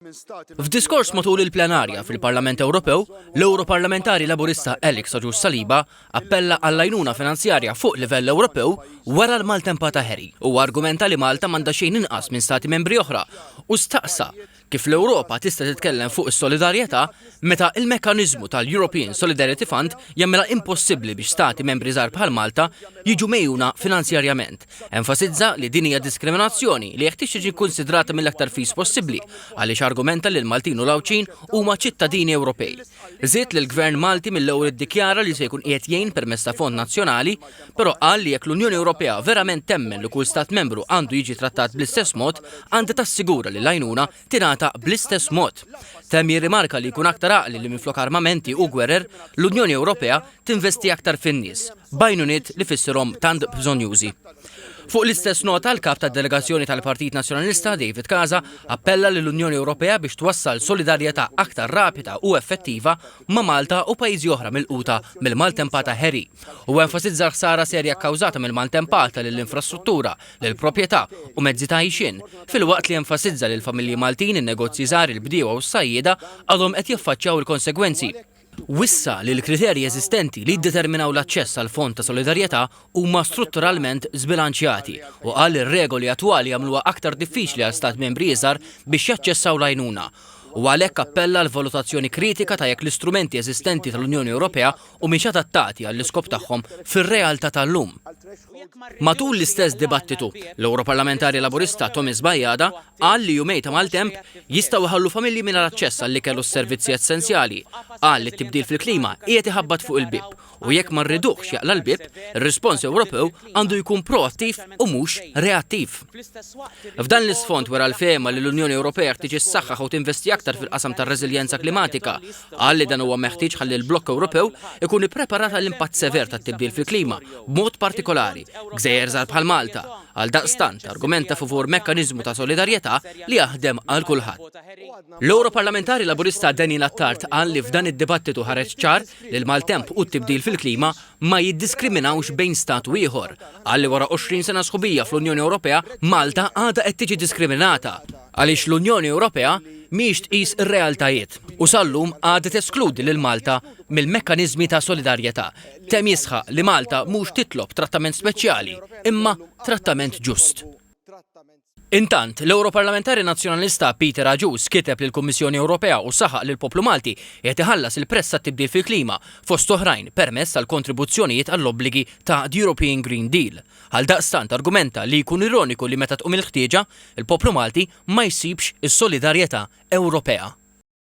F'diskors matul il-plenarja fil-Parlament Ewropew, l-Ewroparlamentari Laburista Alex Agius Saliba appella għall-għajnuna finanzjarja fuq livell Ewropew wara l-maltempa ta' Harry. Huwa argumenta li Malta m'għandha xejn inqas minn Stati Membri oħra u staqsa kif l-Ewropa tista' titkellem fuq is-solidarjetà meta l-mekkaniżmu tal-European Solidarity Fund jagħmilha impossibbli biex Stati Membri żgħar bħal Malta jiġu megħjuna finanzjarjament. Enfasizza li din hija diskriminazzjoni li jeħtieġ tiġi kkunsidrata mill-aktar fis possibbli għaliex argumenta li l-Maltin u l-Għawdxin huma ċittadini Ewropej. Żied li l-Gvern Malti mill-ewwel iddikjara li se jkun qiegħed jgħin permezz ta' fond nazzjonali, però qal li jekk l-Unjoni Ewropea verament temmen li kull Stat Membru għandu jiġi trattat bl-istess mod, għandha tassigura li l-għajnuna tingħata bl-istess mod. Temm jirrimarka li jkun aktar għaqli li minflok armamenti u gwerer, l-Unjoni Ewropea tinvesti aktar fin-nies, b'għajnuniet li fissirhom tant bżonjużi. Fuq l-istess nota, l-kap tad-delegazzjoni tal-Partit Nazzjonalista, David Casa, appella lill-Unjoni Ewropea biex twassal solidarjetà aktar rapida u effettiva ma' Malta u pajjiżi oħra milquta mill-maltempata Harry u enfasizza l-ħsara serja kkawżata mill-maltempata lill-infrastruttura, l-proprjetà u mezzi ta' għixien, filwaqt li enfasizza li l-familji Maltin, in-negozji żgħar, il-bdiewa u s-sajjieda għadhom qed jaffaċċjaw il-konsegwenzi. Wissa li l-kriterji eżistenti li jiddeterminaw l-aċċess għall-Fond ta' Solidarjetà huma strutturalment żbilanċjati u qal li r-regoli attwali jagħmluha aktar diffiċli għal Stat Membri iżgħar biex jaċċessaw l-għajnuna u għalhekk appella għal valutazzjoni kritika ta' jekk l-istrumenti eżistenti tal-Unjoni Ewropea u mhix adattati għall-iskop tagħhom fir-realtà tal-lum. Matul l-istess dibattitu, l-Ewroparlamentari Laburista Thomas Bajada qal li jumej ta' maltemp jistgħu jħallu familji mingħajr aċċess għall-ikel u s-servizzi essenzjali. Qal li t-tibdil fil-klima qiegħed iħabbat fuq il-bieb u jekk ma rriduhx jaqla' l-bieb, ir-rispons Ewropew għandu jkun proattiv u mhux reattiv. F'dan l-isfond wera l-fehma li l-Unjoni Ewropea tiġi ssaħħaħ u tinvesti aktar fil-qasam tar-reżiljenza klimatika Qal li dan huwa meħtieġ ħalli l-blokk Ewropew ikun ippreparat għall-impatt sever tat-tibdil fil-klima, b'mod partikolari, gżejjer żgħar bħal Malta. Għaldaqstant, argumenta favur mekkaniżmu ta' solidarjetà li jaħdem għal kulħadd. L-Ewroparlamentari Laburista Daniel Attard qal li f'dan id-dibattitu ħareġ ċar li l-maltemp u t-tibdil fil-klima ma jiddiskriminawx bejn Stat u ieħor. Qal li wara 20 sena sħubija fl-Unjoni Ewropea, Malta għadha qed tiġi diskriminata għaliex l-Unjoni Ewropea mhijiex tqis ir-realtajiet u sal-lum għadha teskludi lil Malta mill-mekkaniżmi ta' solidarjetà. Temm jisħaq li Malta mhux titlob trattament speċjali imma trattament ġust. Intant, l-Ewroparlamentari Nazzjonalista Peter Agius kiteb lill-Kummissjoni Ewropea u saħaq li l-poplu Malti qiegħed iħallas il-prezz tat-tibdil fil-klima, fost oħrajn, permezz tal-kontribuzzjonijiet għall-obbligi ta' The European Green Deal. Għaldaqstant argumenta li jkun ironiku li meta tqum il-ħtieġa, il-poplu Malti ma jsibx is-solidarjetà Ewropea.